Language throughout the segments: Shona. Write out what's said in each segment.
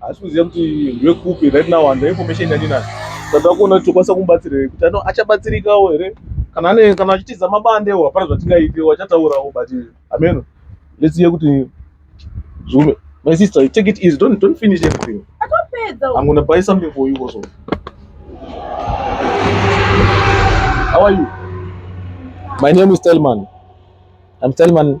Asi kuziva kuti ndwekupi right now and information yandinayo. Saka kuona kuti tokwanisa kumubatsira here kuti ano achabatsirikawo here kana ane kana achitiza mabandewo hapana zvatingaite wachataurawo but ameno let's hear kuti zvume my sister take it easy don't don't finish everything. Atopedza. I'm gonna buy something for you also. How are you? My name is Telman. I'm Telman.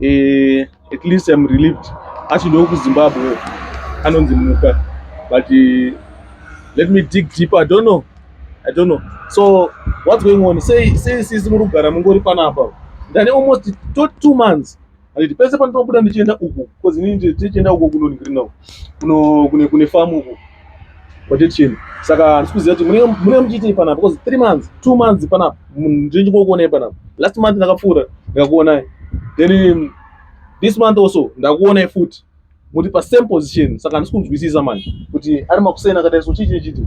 eh, at least I'm relieved achidoo kuzimbabwe anonzi muka but uh, let me dig deeper i don't know i don't know so what's going on sei sei sisi muri kugara mungori panapa ndane almost to two months anditi pese pandinobuda ndichienda uku bcause inini ndichienda uko kunonhirina uko kune kune famu uko Kwete chini. Saka handisi kuziva kuti munenge munenge muchiitei panapa because 3 months, 2 months panapa ndinenge kuonai panapa. Last month ndakapfuura ndikakuonai. Then this month also ndakuonai futi. Muri pa same position. Saka handisi kunzwisisa manje kuti ari makuseni akadai so chii chii chii.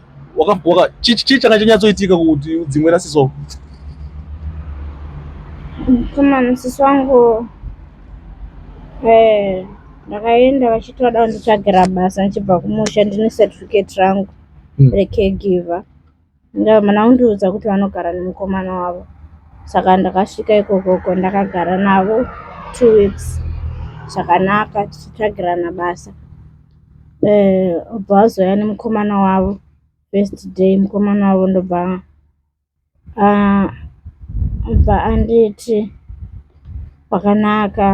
chii changa chanyatsoitika kuti udzimwe nasisi wako mkomana sisi wangu eh, ndakaenda vachiti vada kunditsvagira basa ndichibva kumusha ndine certificate rangu hmm. recaregiver ndamana undiudza kuti vanogara nemukomana wavo saka ndakasvika ikokoko ndakagara navo two weeks zvakanaka tichitsvagirana basa Obva azouya nemukomana wavo first day mukomana wavo ndobva obva anditi pakanaka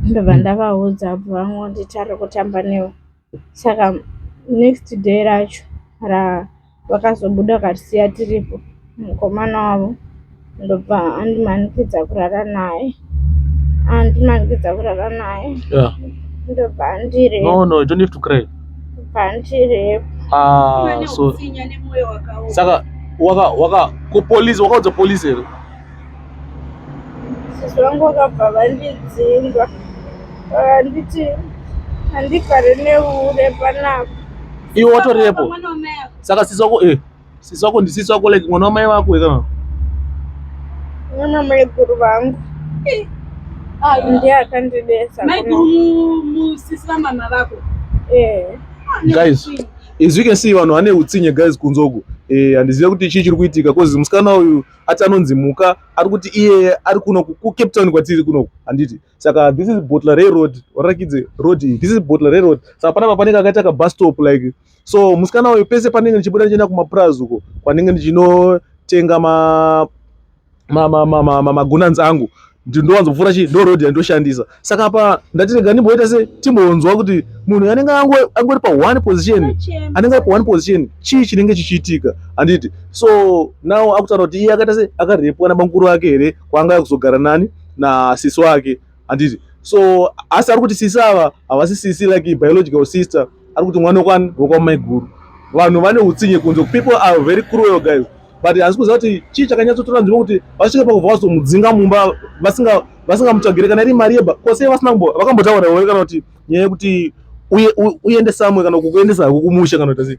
ndobva ndavaudza obva vangonditi arikutamba newe saka next day racho ra. vakazobuda vakatisiya tiripo mukomana wavo ndobva andimanikidza kurara naye andimanikidza kurara naye ndobva andire no no you don't have to cry ndobva andirepo ah so saka waka waka ku police wakaudza police here sisi vangu vakabva vandidzinga vakanditi handifare neure panapa iwe watorepo saka sisi wako eh sisi wako ndi sisi wako like mwana wamai vako eka mwana mai guru vangu ah, ndiye akandibesa mai guru musisi vamama vako eh ah, guys as you can see vanhu vane utsinye guys kunzoku eh handizive kuti chii chiri kuitika cause musikana uyu ati anonzi muka ari kuti iyeye ari kuno kucape town kwatiri kunoku handiti saka this is botla reroad warakidze road iyi this is botla reroad saka panapa panenge akaita kabus stop like so musikana uyu pese panenge ndichibuda ndichienda kumapurazi uko kwanenge ndichinotenga magunanzi angu ndinowanzopfuura chii ndo road yandoshandisa saka apa ndati rega ndimboita se timbonzwa kuti munhu anenge angori pa one position anenge ari pa one position chii chinenge chichiitika handiti so now akutaura kuti iye akaita se akarepwa nabamukuru vake here kwaanga akuzogara nani nasisi wake handiti so asi ari kuti sisi ava havasi sisi like biological sister ari kuti mwana wekwan wekwamaiguru vanhu vane utsinye kunze people are very cruel guys but hasi kuziva kuti chii chakanyatsotora nzvimbo kuti vasvike pakubva vazomudzinga mumba vasingamutsvagire kana iri mari yeba kose vasina kumbo vakambotaura here kana kuti nyaya yekuti uende samwe kana kukuendesa hako kumusha kana kuti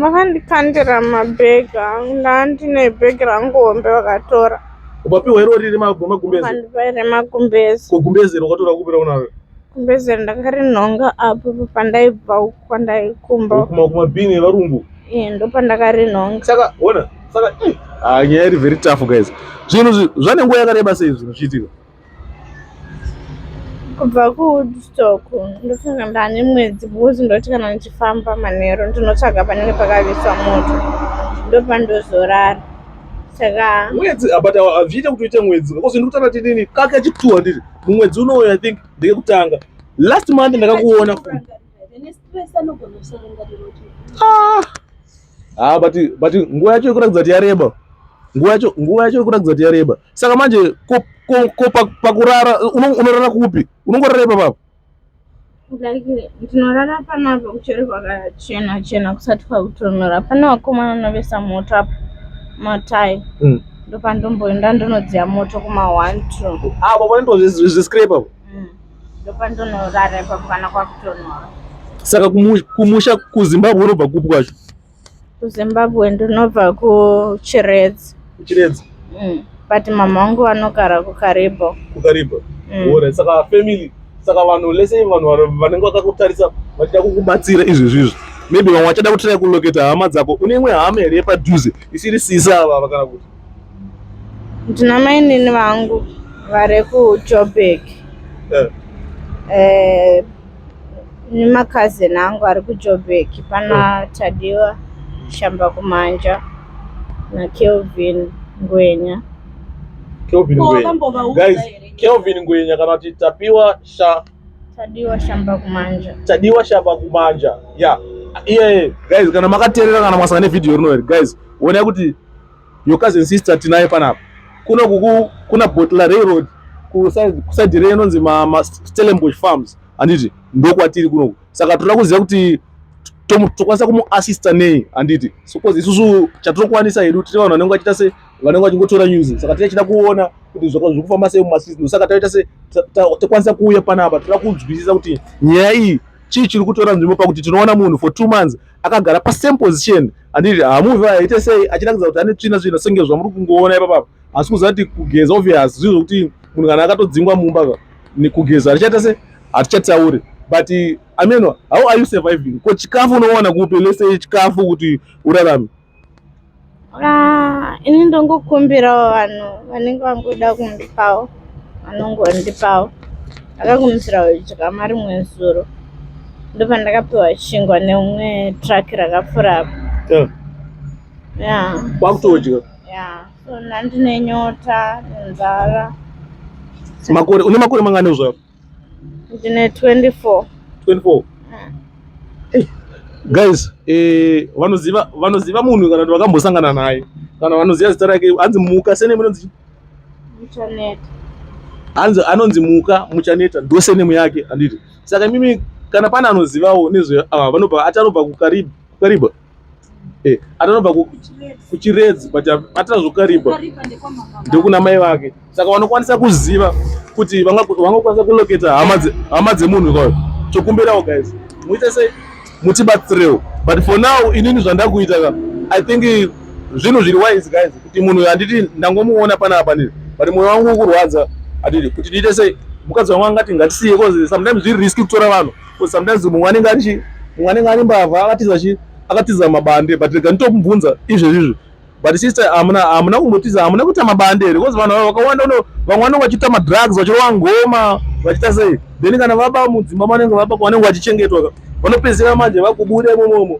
Vakandikandira mabag angu ndandine bag rangu hombe vakatora. Ukapiwa iro riri magumbezi. Vakandipa iri magumbezi. Ko gumbezi iro wakatora kupira unaro. Gumbezi iro ndakarinhonga apo pandaibva kwandaikumba. Kuma kuma bini varungu. Eh ndopandakarinhonga. Saka ona saka eh ah nyaya iri very tough guys. Zvinhu zvanenguva yakareba sei zvinhu zvichiitika. kubva kuwoodstock ndofana ndane mwedzi because ndoti kana ndichifamba manheru ndinotsvaga panenge pakaviswa moto ndopandozorara saka mwedzi ah, but hazviite ah, kuti uite mwedzi because ndikutanga tinini kake chituwa ndiri mumwedzi unouyo i think ndekekutanga last month ndakakuona futi ah. Ah, but but nguva yacho ikuratidza kuti yareba. Nguva yacho nguva yacho ikuratidza kuti yareba. Saka manje ko ko, ko pakurara unorara kupi? Unongorara ipa baba. Like tinorara pana kuchero kwakachena chena kusati kwakutonora. Pana vakomana vanovesa moto apa. Matai. Mm. Ndopandomboenda ndonodziya moto kuma 1 2. Ah, baba ndozvi zvi scraper. ndopandonorara ipapo kana kwakutonhora saka kumusha kuzimbabwe unobva kupi kwacho kuzimbabwe ndinobva kuchiredzi kuchiredzi mm. but mama wangu vanogara kukaribo kukaribo mm. ora saka family saka vanhu lese vanhu vanenge vakakutarisa vachida kukubatsira izvi zvizvi maybe vamwe vachada kutira kuloketa hama dzako une imwe hama here yepadhuze isiri sisa ava kana kuti ndina mainini vangu vari kujoburg eh. eh, nemakazini angu ari kujoburg pana eh. tadiwa shamba kumanja nakelvin ngwenya kelvin ngwenya guys kelvin ngwenya kana kuti tapiwa sha tadiwa shamba kumanja tadiwa shamba kumanja ya yeah. iye yeah. guys kana makateerera kana mwasanga nevhidhiyo rino here guys wonai kuti your cousin sister tinaye panapa kuno kuku kuna botla railroad kuside re inonzi mastellenbosh farms handiti ndokwatiri kunoku saka toda kuziva kuti tokwanisa kumuassista nei handiti because isusu chatirokwanisa hedu tiri vanhu vanenge vachiita se vanenge vachingotora news saka tichachida kuona kuti zviri kufamba sei mumasizino saka taita se tokwanisa kuuya panapa toda kunzwisisa kuti nyaya iyi chii chiri kutora nzvimbo pakuti tinoona munhu for two months akagara pasame position anditi hamuvi aite sei achirakidza kuti ane tsvina tsvina senge zvamuri kungoona ipapapa asi kuziva kuti kugeza obvious zvii zvokuti munhu kana akatodzingwa mumba kugeza hatichaita se hatichatauri but ameno how are you surviving ko chikafu unowana kupi lese chikafu kuti urarame Ah, ini ndongokumbirawo vanhu vanenge vangoda kundipawo vanongondipawo akakumbira kudya mari rimwe zuro ndopandakapiwa chingwa neumwe truck rakapfura apo ya kwakutodya ya so nandine nyota nenzara makore une makore mangani uzvaro ndine 24 24 mm. guys eh, vanoziva vanoziva munhu kana kuti vakambosangana naye kana vanoziva zita rake hanzi muka sene munonzi muchaneta hanzi anonzi muka muchaneta ndosenemu yake handiti saka mimi kana pane anozivawo nezve ah, vanobva atanobva kukariba eh, atanobva kuchiredzi but atazokaripa ndokuna mai vake saka vanokwanisa kuziva kuti vangakwanisa kuloketa hama dzemunhu kwayo tokumbirawo guys muite sei mutibatsirewo but for now inini zvandakuita ka i think zvinhu zviri wise guys kuti munhu handiti ndangomuona panapa nini but moyo wangu ukurwadza handiti kuti ndiite sei mukadzi wangu angati ngatisiye bcause sometimes zviri riski kutora vanhu Because sometimes mumwe anenge ari chi mumwe anenge ari mbavha akatiza chi akatiza mabande but rega nditokubvunza izvezvi izvi but sister hamuna hamuna kumbotiza hamuna kuita mabande here because vanhu vakawanda uno vamwe vanenge vachiita madrugs vachirova ngoma vachiita sei then kana vaba mudzimba manenge vaba vanenge vachichengetwa vanopedzisira manje vakubuda imomomo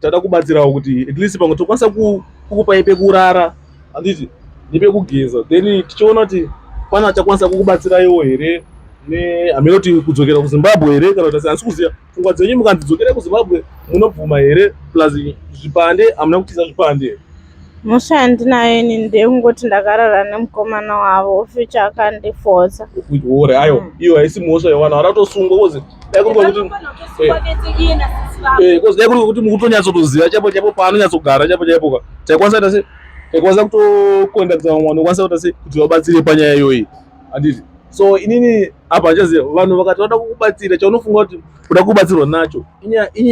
Tinoda kubatsirawo kuti at least pamwe tokwanisa kukupai pekurara handiti nepekugeza then tichiona kuti pana achakwanisa kukubatsiraiwo here hameno kuti kudzokera kuzimbabwe here kana kuti asi hasi kuziva pfungwa dzenyu mukanzi dzokerai kuzimbabwe munobvuma here plus zvipande hamuna kutiza zvipande here Mhosva yandinayo ini ndeyekungoti ndakarara nemukomana wavo ofuti akandifodza. Ore ayo mm. iyo haisi mhosva yewana waratosungwa kozi dai kuri kwakuti eh. eh, kozi dai kuri kwakuti mukutonyatsotoziva chaipo chaipo paanonyatsogara chaipo chaipo ka taikwanisa ta se taikwanisa kutokonda kutsava mwana okwanisa kuta se kuti vabatsire panyaya iyoyi handiti so inini apa handichaziva vanhu vakati vada kukubatsira chaunofunga kuti kuda kubatsirwa nacho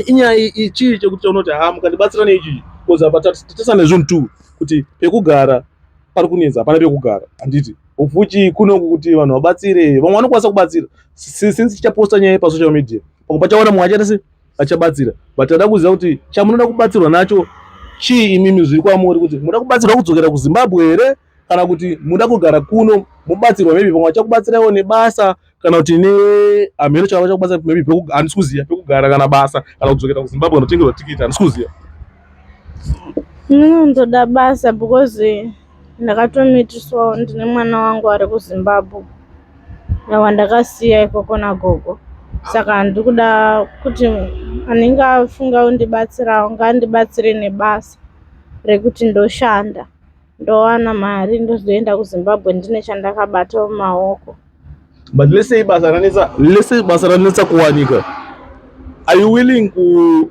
inyaya ichii chekuti chaunoti ha mukandibatsira neichii bcause apa tatesa nezvinhu two kuti pekugara pari kunetsa hapana pekugara handiti ufuchi kunoku kuti vanhu vabatsire vamwe vanokwanisa kubatsira since tichaposta nyaya pasocial media pamwe pachaona mumwe achaita se achabatsira but ada kuziva kuti chamunoda kubatsirwa nacho chii imimi zviri kwamuri kuti munoda kubatsirwa kudzokera kuzimbabwe here kana kuti muda kugara kuno mubatsirwa maybe pamwe vachakubatsiraiwo nebasa kana kuti nehamheno chava vachakubatsira maybe handisi kuziva pekugara kana basa kana kudzokera kuzimbabwe kanotengerwa tikiti handisi kuziva ndinoda basa because ndakatomitiswawo ndine mwana wangu ari kuzimbabwe awa ndakasiya ikoko nagogo saka handiri kuda kuti anenge afunga undibatsirawo ngaandibatsire nebasa rekuti ndoshanda ndowana mari ndozoenda kuzimbabwe ndine chandakabata mumaoko but lesei basa ranetsa lesei basa ranetsa kuwanika are you willing ku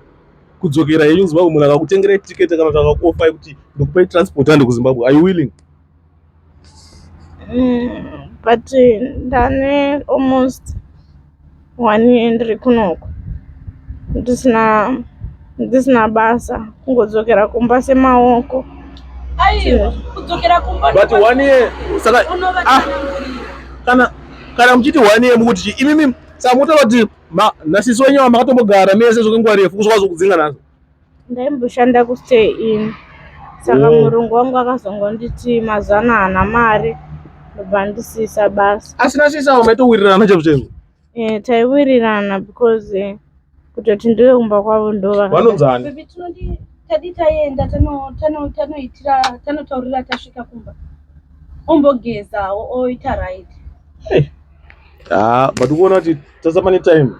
kudzokera henyu zimbabwe munhu akakutengera ticket kana kuti akakuofa yekuti ndikupai transport ande kuzimbabwe are you willing mm, but ndane almost Wani ndiri kunoku ndisina ndisina basa kungodzokera kumba semaoko aiwa kudzokera kumba but one year saka ah, kana kana muchiti one year mukuti chi imimi saka mukutola kuti nasisi wenyu vamakatombo gara mese zvokenguva refu kuzokwazo kudzinga nazo ndaimboshanda kustay in saka oh. murungu wangu akazongonditi mazuva ano haana mari ndobva ndisiisa basa asina siisa umaitowirirana chaivo chaivo eh, taiwirirana because eh, kutoti ndive kumba kwavo ndovanonzani tadi taenda tanoitira tanotaurira tasvika kumba ombogezawo oita right Ah, but ukuona kuti sasa pane time.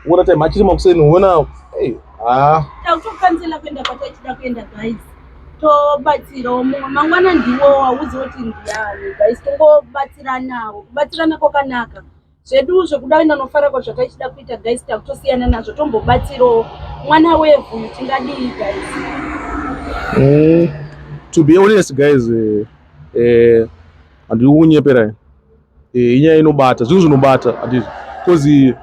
Ukuona time achiri makuseni uona hey, ah. Takutokanzela kuenda kwatachida kuenda guys. Tobatsirawo mumwe mangwana ndiwo wauzi woti ndiyani guys tongobatsiranawo. Kubatsirana kwakanaka. Zvedu zvekuda kuenda nofara kwa zvataichida kuita guys takutosiyana nazvo tombobatsirawo mwana wevhu uyu tingadii guys. Mm, to be honest guys eh, eh, handiri kukunyeperai eh, inyaya inobata zvinhu zvinobata handizvo bcause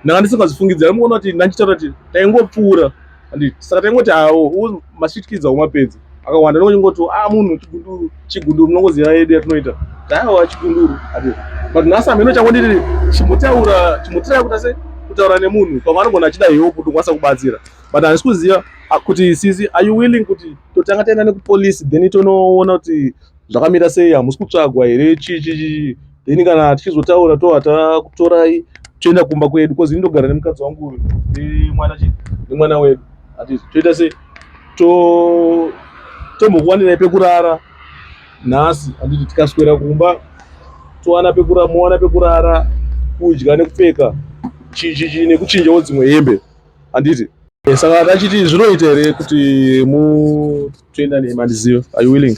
ndanga ndisingazvifungidzi aimuona kuti ndandichitaura kuti taingopfuura handiti saka taingoti awo masvitkidza umapedzi akawanda ndongoti a ah, munhu chigunduru chigunduru munongoziva yedu yatinoita taiwa chigunduru handiti but nhasi amheno changu ndiri chimbotaura chimbotirai kuta se kutaura nemunhu pamwe anogona achida hewo kuti ukwanisa kubatsira but handisi kuziva ah, kuti sisi are you willing kuti totanga taenda nekupolice then tonoona kuti zvakamira sei hamusi kutsvagwa here chii chii chii then kana tichizotaura toa takutorai toenda kumba kwedu bcause ini ndogara nemukadzi wangu uyu nemwana chii nemwana wedu hatizi toita sei to tombokuwanirai pekurara nhasi handiti tikaswera kumba towana pekura mowana pekurara kudya nekupfeka chii chii chii nekuchinjawo dzimwe hembe handiti Eh, saka ndachiti zvinoita here kuti mutoenda neni mandizive are you willing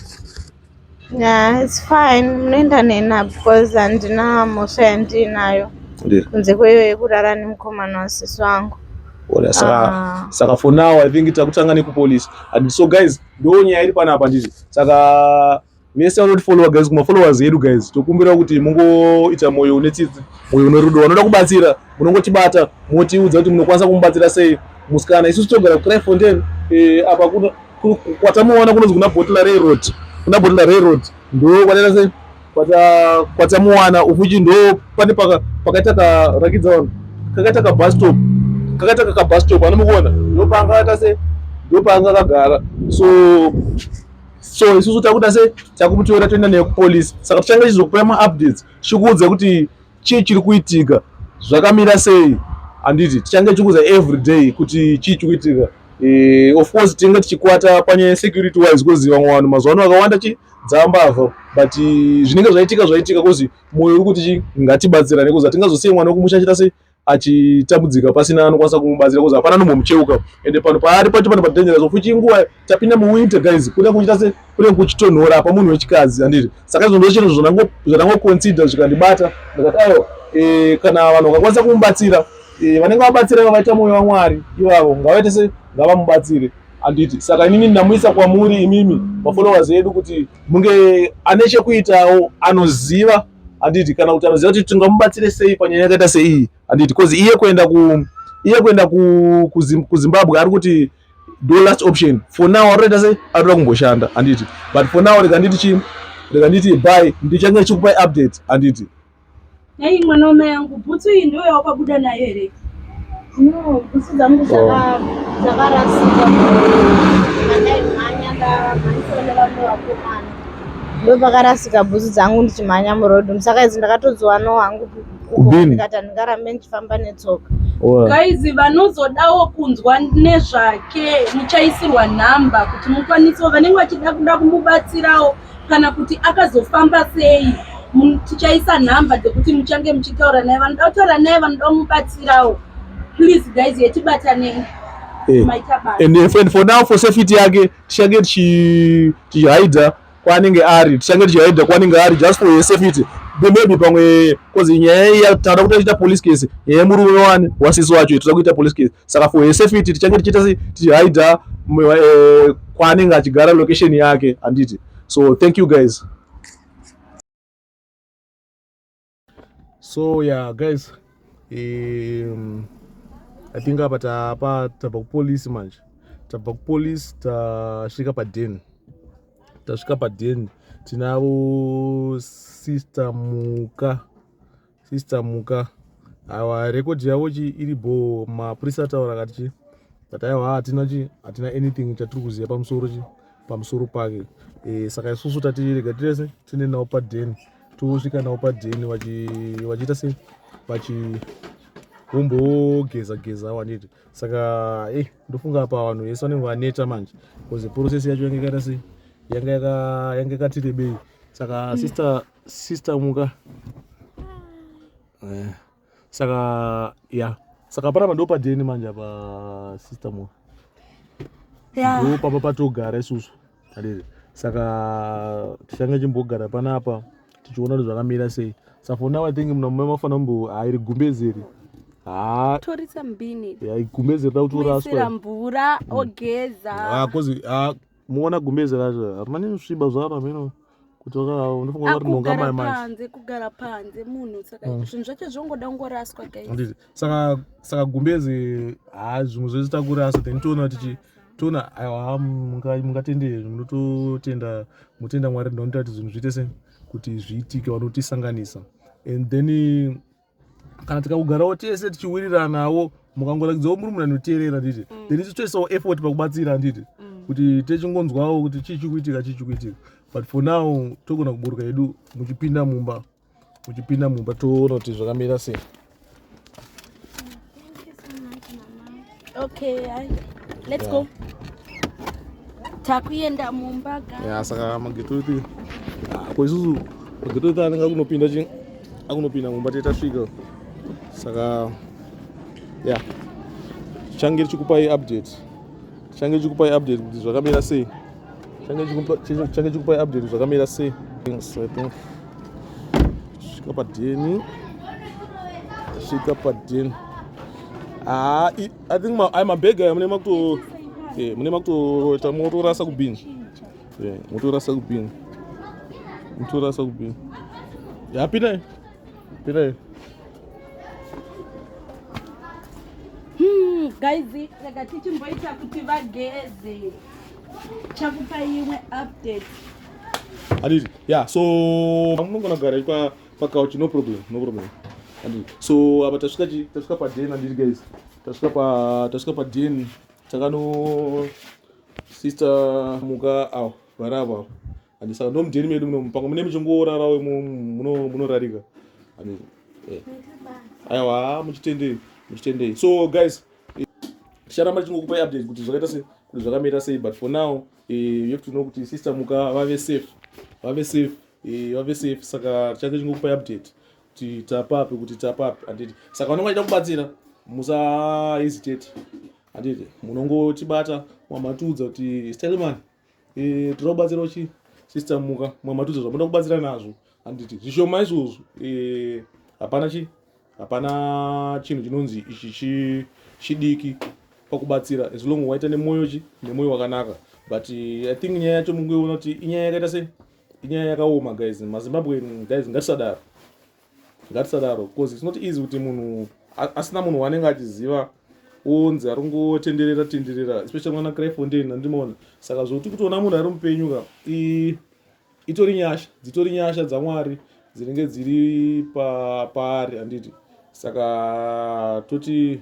yeah it's fine munoenda nena because handina mhosva yandiinayo kunze kweyo yekurara nemukomana wasisi wangu Ola, saka, ah. saka for now i think takutanga nekupolice and so guys ndo nyaya iri panapa ndizvi saka vese vanotifollowa guys kumafollowers edu guys tokumbira kuti mungoita moyo une tsitsi moyo une rudo vanoda kubatsira munongotibata motiudza kuti munokwanisa kumubatsira sei musikana isusu togara kucryfontain eh, apa kwatamuona kunonzi kuna bottle railroad kuna bottle railroad ndo kwataita sei kwatamuwana ufuchi ndo pane pakaita karakidza vanhu kakaita kabastop kakaita kakabastop anomukuona ndopanga akaita sei ndopanga akagara so so isusu takuita se takumutora toenda naye kupolice saka tichange tichizokupai maupdates tichikuudza kuti chii chiri kuitika zvakamira sei handiti tichange tichikuudza every day kuti chii chiri kuitika e, of course tinenge tichikwata panyaya yesecurity wise because vamwe vanhu mazuva ano vakawanda chi dzambavha but eh, zvinenge zvaitika zvaitika kozi mwoyo uri kuti chi ngatibatsirane kozi hatingazosiye mwana wekumusha achita se achitambudzika pasina anokwanisa kumubatsira kozi hapana anomucheuka ende pano paari pacho pano padangerous of futi inguva tapinda muwinter guys kuda kuchita se kune kuchitonhora apa munhu wechikadzi andiri saka izvo ndozvinhu zvandangoconsider zvikandibata ndakati aiwa eh, kana vanhu vakakwanisa kumubatsira eh, vanenge vabatsira iva vaita mwoyo wamwari ivavo ngavaite se ngavamubatsire anditi saka inini ndamuisa kwamuri imimi mafollowers edu kuti munge ane chekuitawo anoziva handiti kana kuti anoziva kuti tingamubatsire sei panyaya yakaita seiyi handiti bcause iye kuenda ku iye kuenda kuzimbabwe ari kuti do last option for now arikuita sei arikuda kumboshanda handiti but for now rega nditi chii rega nditi by ndichange chikupai update handiti nei mwana wamai yangu bhutsu iyi ndoyawakabuda nayo here No, bhutsu dzangu dzaka- dzakarasika pandaimhanya ndamhanyiswa nevamwe vakomana ndopakarasika bhutsu dzangu ndichimhanya muroad musaka idzi ndakatodziwanawo hangu ku- uko Kubini. ndikati handingarambe ndichifamba netsoka Wow. guys vanozodawo kunzwa nezvake muchaisirwa nhamba kuti mukwanise vanenge vachida kuda kumubatsirawo kana kuti akazofamba sei tichaisa nhamba dzekuti muchange muchitaura naye vanoda kutaura naye vanoda kumubatsirawo please guys yetibatanei Hey. Eh. And, if, and for now for safety yake tichange tichihaidha kwaanenge ari tichange tichihaidha kwaanenge ari just for your safety maybe pamwe bcause nyaya iya tinoda kutoita police case nyaya yemurume wani wasisi wacho itoda kuita police case saka for her safety tichange tichiita sei tichihaida eh, kwaanenge achigara location yake handiti so thank you guys so yeah guys um, i think apa tapa tabva kupolice manje tabva kupolice tasvika paden tasvika paden tinavo sister muka sister muka aiwa record yavo chi iri bho mapurisa ataura akati chi but aiwa hatina chi hatina anything chatiri kuziva pamusoro chi pamusoro pake e, saka isusu tatirega tirese tiende navo padheni tosvika navo padheni vachiita se vachi vombogeza geza waniti saka e ndofunga apa vanhu vese vanenge vaneta manje bcause process yacho yanga yakaita se yanga yakatirebei saka mm. sister sister muka eh, saka ya saka panapa ndopadeni manje apa sister muka yeah. ndopapa patogara isusu adede saka tichange chimbogara panapa tichiona kuti zvakamira sei safona watingi muna mume mafana mbo hairi gumbezeri torisa mbini gumbeze rida kutoraswa mvura ogeza muona gumbeze racho hamani kusviba zvaro hameno kutoka unofunga kuti nonga mai mai panze kugara panze munhu saka mm. zvinhu zvacho zvongoda kungoraswa guys saka saka gumbezi ha zvimwe zvese takurasa then toona tichi toona aiwa mungatende munototenda mutenda mwari ndinoita kuti zvinhu zviite se kuti zviitike vanotisanganisa and then kana tikakugarawo tese tichiwiriranawo mukangorakidzawo muri munhu anoteerera handiti mm. then isu toisawo effort pakubatsira handiti mm. kuti techingonzwawo kuti chii chikuitika chii chikuitika but for now togona kuburuka yedu muchipinda mumba muchipinda mumba toona kuti zvakamira sei okay hai let's yeah. go takuenda mumba ga yeah, saka magetoiti ah, ko isusu magetoiti anenge akunopinda chi akunopinda mumba tete tasvika saka yeah change richikupai update change richikupai update kuti zvakamira sei change chikupai update zvakamira sei things i think svika padeni svika padeni haa ah, i think ai mabhega aya mune makuto eh, mune makutoita motorasa kubini eh, motorasa kubini motorasa kubini ya pinai pinai hmm, guys rega tichimboita kuti vageze chakupa imwe update anditi ya so munogona kugara pa pacouch no problem no problem anditi so apa tasvika chi tasvika paden anditi guys tasvika pa tasvika paden takano sister muka awo vari avo avo anditi saka ndomudeni medu muno mupango mune muchingorarawo munorarika anditi eh. aiwa muchitendei muchitendei so guys ticharamba tichingokupai update kuti zvakaita se kuti zvakamira sei but for now eh, you have to know kuti sister muka vave safe vave safe eh, vave safe saka tichange tichingokupai update kuti tapapi kuti tapapi handiti saka vanonga vachida kubatsira musa hesitate handiti munongotibata wamatiudza kuti stelman eh, tinoda kubatsirawo chi sister muka mwamatudza zvamoda kubatsira nazvo handiti zvishoma izvozvo eh, hapana chi hapana chinhu chinonzi ichi chidiki pakubatsira as long waita nemwoyo chi nemwoyo wakanaka but eh, i think nyaya yacho mungoiona kuti inyaya yakaita se inyaya yakaoma guys mazimbabwe guys ngatisadaro ngatisadaro because it's not easy kuti munhu asina munhu waanenge achiziva onzi ari ngotenderera tenderera especially mwana crayfontain andimoona saka zvokuti kutoona munhu ari mupenyu ka itori nyasha dzitori nyasha dzamwari dzinenge dziri paari anditi saka toti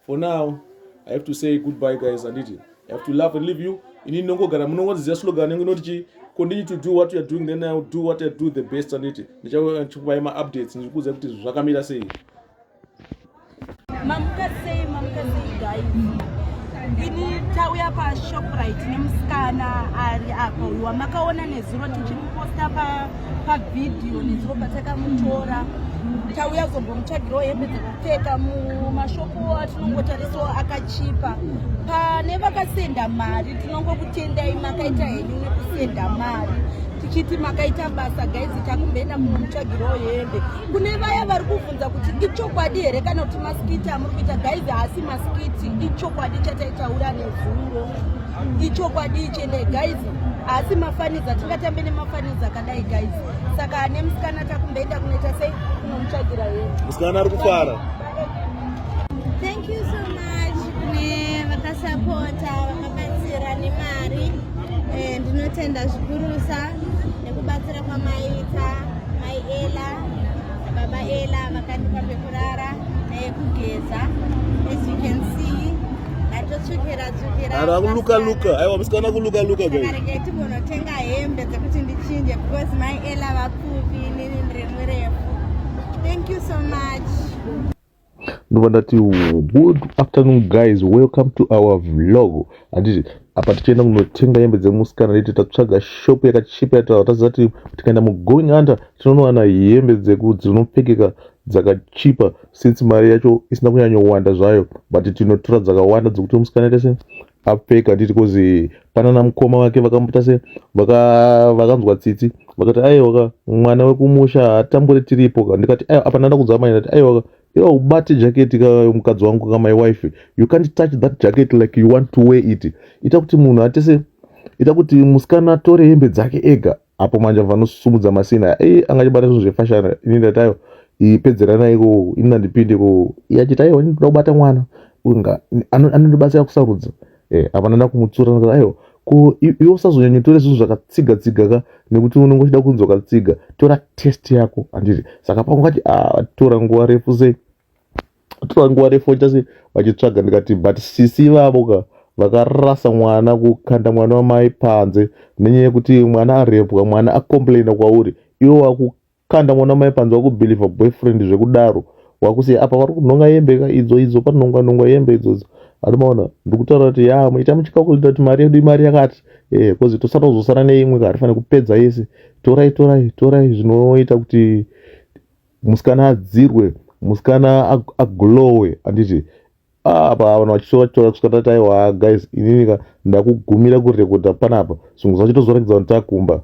For now I have to say goodbye guys anditi I have to laugh and leave you inini ndongogara munongondiziva slogan yangu inoti chii continue to do what you're doing then i'll do what i do the best on it ndichakupai uh, maupdates ndichikuudzai kuti zvakamira sei mamuka sei mamuka sei guys ini tauya pashoprite nemusikana ari apa uyu wamakaona nezuro tichimuposta pa pavhidhiyo nezuro patakamutora tauya kuzombomutsvagirawo hembe dzekupfeka mumashopo atinongotarisawo akachipa pane vakasenda mari tinongokutendai makaita henyu nekusenda mari tichiti makaita basa gaizi takumboenda munomutsvagirawo hembe kune vaya vari kuvhunza kuti ichokwadi here kana kuti masikiti amuri kuita gaizi haasi masikiti ichokwadi chataitaura nezuro ichokwadi chene gaizi asi mafanidza tingatambe nemafanidza akadai guys saka nemusikana takumboenda kunoita sei kunomutsvagira here musikana ari kufara thank you so much kune vakasapota vakabatsira nemari eh, ndinotenda zvikurusa nekubatsira kwamaita mai ela baba ela vakandipa pekurara neyekugeza as you can see Atotsvukira tsvukira. Ara kuluka luka. Aiwa musikana kuluka luka guys. Kareke timonotenga hembe dzekuti ndichinje because my Ella vapfupi nini ndiri murefu. Thank you so much. Ndova ndati good afternoon guys welcome to our vlog handiti apa tichienda kunotenga hembe dzemusikana leti tatsvaga shop yakachipa yataura taziva kuti tikaenda mugoing under tinonowana hembe dzeku dzinopfekeka dzakachipa since mari yacho isina kunyanyowanda zvayo but tinotora dzakawanda dzekuti musikana ita se apfeka handiti kozi pana namukoma vake vakamboita se vakanzwa tsitsi vakati aiwaka mwana wekumusha hatambure tiripo ka ndikati apana nda kudzama ndati aiwaka iwa ubate jaketi ka mukadzi wangu ka my wife you can't touch that jacket like you want to wear it ita kuti munhu atese ita kuti musikana atore hembe dzake ega apo manje vanosumudza masina aya ei anga achibata zvinhu zvefashana ini ndatayo ipedzeranai ko ini ndandipinde ko iachitayo ini ndoda kubata mwana unga anondibatsira kusarudza eh, apana ndakumutsura ndikati aiwa ko iwe usazonyanyotore zvinhu zvakatsiga tsiga ka nekuti unenge uchida kunzwa katsiga tora test yako handiti saka paungati ah, tora nguva refu sei tora nguva refu chase vachitsvaga ndikati but sisi vavo ka vakarasa mwana kukanda mwana wamai panze nenyaya yekuti mwana arepwa mwana acomplaina kwauri iwo wakukanda mwana wamai panze wakubhilivha boyfriend zvekudaro wakusiya apa vari kunhonga yembe ka idzo idzo panonga nonga yembe idzodzo ari maona ndikutaura kuti ya muita muchika kuita kuti mari yedu imari yakati eh kozi tosara kuzosara neimwe ka hatifanire kupedza yese torai torai torai zvinoita kuti musikana adzirwe musikana aglowe anditi ah, apa vanhu vachitaura kusvika tati aiwa guys ininika ndakugumira kurekodha panapa zvimwe zvacho tozorakidza vanhu takumba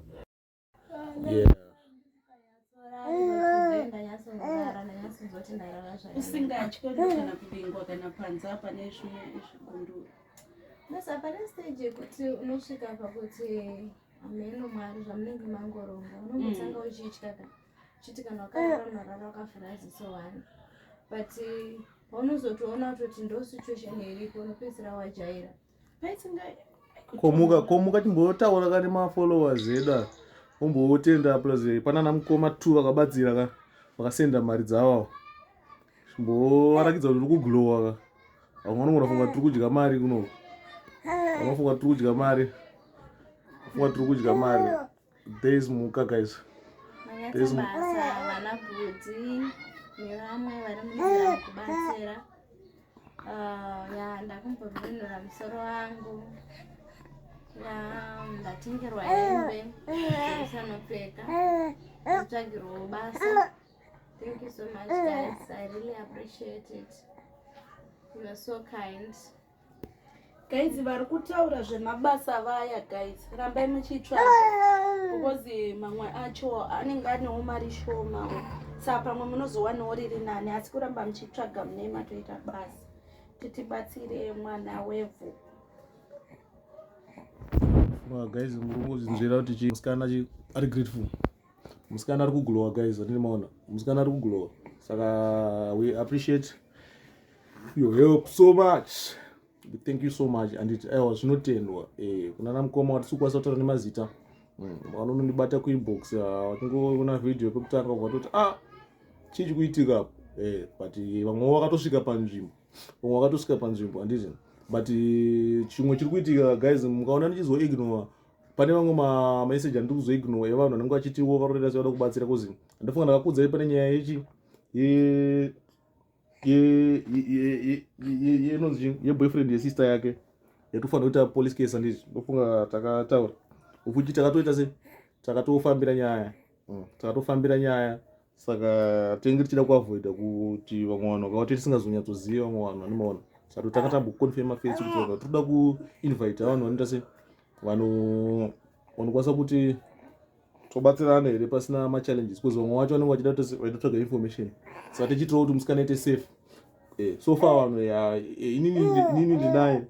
usingatye kana kuvingwa kana panze apa nezvimwe izvigunduru basa pane stage yekuti unosvika pakuti hameno mwari zvamunenge mangoronga unombotanga mm. uchitya kana chiti kana wakarara unorara wakafura ziso one but eh, paunozotoona kutoti ndo situation iripo unopedzisira wajaira paisinga komuka komuka timbotaura kani mafollowers edu aya ombootenda plus eh, panana mukoma two vakabatsira ka vakasenda mari dzavo mbovarakidza kuti uri kuglowa ka vamwe vanongo vafunga tiri kudya mari kuno vamwe vafunga tiri kudya mari vafunga tiri kudya mari There is muka guys. There is muka. Vana bhudhi nevamwe vari muzera kubatsira. Ah, ya ndakumbovinura musoro wangu. Ya ndatengerwa hembe sanopfeka. Tsvagirwa basa. Thank you so much guys. I really appreciate it. You are so kind. guys vari kutaura zvemabasa vaya guys rambai muchitsvaga because mamwe acho anenge anewo mari shoma saa pamwe munozowanawo riri nani asi kuramba muchitsvaga mune matoita basa titibatsire mwana wevhu guys murume uzinzvera kuti chisikana ari grateful musikana ari kuglowa guys vatini maona musikana ari kuglowa saka we appreciate your help so much thank you so much anditi aiwa zvinotendwa eh, kuna na mukoma watisi kukwanisa kutaura nemazita mm, vanonondibata kuinbox watingoona video pekutanga vatoti ah chii chikuitika apo eh, but vamwe vakatosvika panzvimbo vamwe vakatosvika panzvimbo anditi but chimwe chiri kuitika guys mukaona ndichizoignore pane vamwe mameseji andiri kuzoignowa evanhu vanenge vachitiwo varorera sevada kubatsira kozi andifunga ndakakudzai pane nyaya yechi inonzi yeboyfriend yesister yake yatofanira kuita police case andizvi ndofunga takataura ukuti takatoita se takatofambira nyaya mm, tatofambira nyaya saka tinenge tichida kuavoida kuti vamwe vanhu vakawati tisingazonyatsoziva vamwe vanhu vanomaona sato tanga tamboconfirma face kuti vaka toda kuinvita vanhu vanoita se vanhu vanokwanisa kuti tobatsirana here pasina machallenges because vamwe vacho vanenge vachida vaitotsvaga information saka tichitirawo kuti musikana ite safe eh, so far vanhu eh, inini ndinaye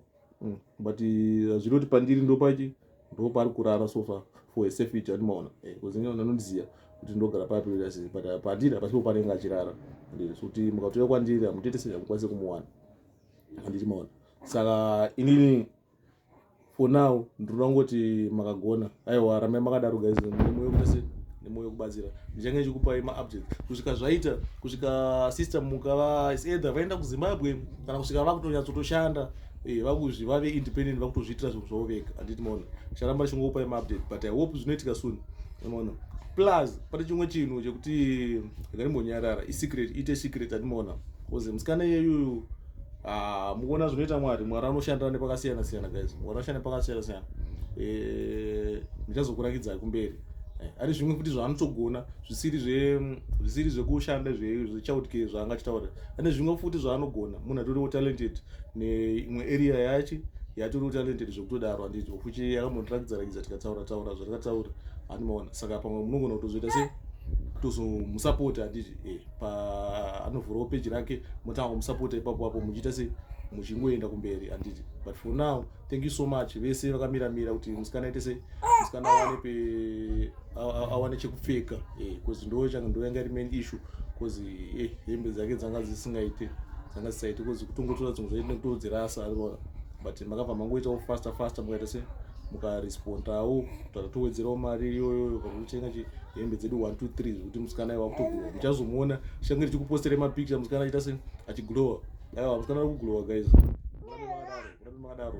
mm. but eh, hazvinoti pandiri ndopachi ndopari kurara sofa for a safety andimaona eh, kuzinga anondiziva kuti ndogara papi but eh, pandiri hapasipo panenge achirara kuti mukatouya kwandiri hamutete sei hamukwanise kumuwana anditi maona saka inini for now ndinoda kungoti makagona aiwa ramai makadaro guys nemoyo kutase nemoyo kubatsira ndichange ndichikupai maupdate kusvika zvaita kusvika sister mukava either vaenda kuzimbabwe kana kusvika vakutonyatsotoshanda eh, vakuzvi vave independent vakutozviitira zvinhu zvavo vega handiti maona charamba richingokupai maupdate but i hope zvinoitika soon maona plus pane chimwe chinhu chekuti ndakarimbonyarara isecret ite secret andimaona bcause musikana iyeyuyu ah, mukuona zvinoita mwari mwari anoshandira nepakasiyana siyana guys mwari anoshanda nepakasiyana siyana eh, ndichazokurakidza kumberi eh, ari zvimwe futi zvaanotogona zvisiri zvisiri zvekushanda zvechautike zvaanga achitaura ane zvimwe futi zvaanogona munhu atoriwo talented neimwe area yachi yatoriwo talented zvekutodaro anditi ofuchi yakambotirakidzarakidza tikataura taura zvatakataura andimaona saka pamwe munogona kutozoita sei tozomusapota handiti e eh, paanovhurawo peji rake motanga kumusapota ipapo apo muchiita sei muchingoenda kumberi handiti but for now thank you so much vese vakamira mira kuti musikana aite sei musikana awane pe awane chekupfeka bcause eh, ndo changa ndo yanga iri main issue bcause eh, hembe dzake dzanga dzisingaite dzanga dzisaite bcause kutongotora dzimwe zvaite nekutodzirasa ariona but makabva mangoitawo faster faster mukaita sei mukarespondawo kutaura towedzerawo mari iyoyo kana kutenga hembe dzedu 123 zvekuti musikana iwa kutogona muchazomuona change ndichikupostera mapicture musikana aita sei achiglowa aiwa musikana ari kuglowa guys urambe makadaro urambe makadaro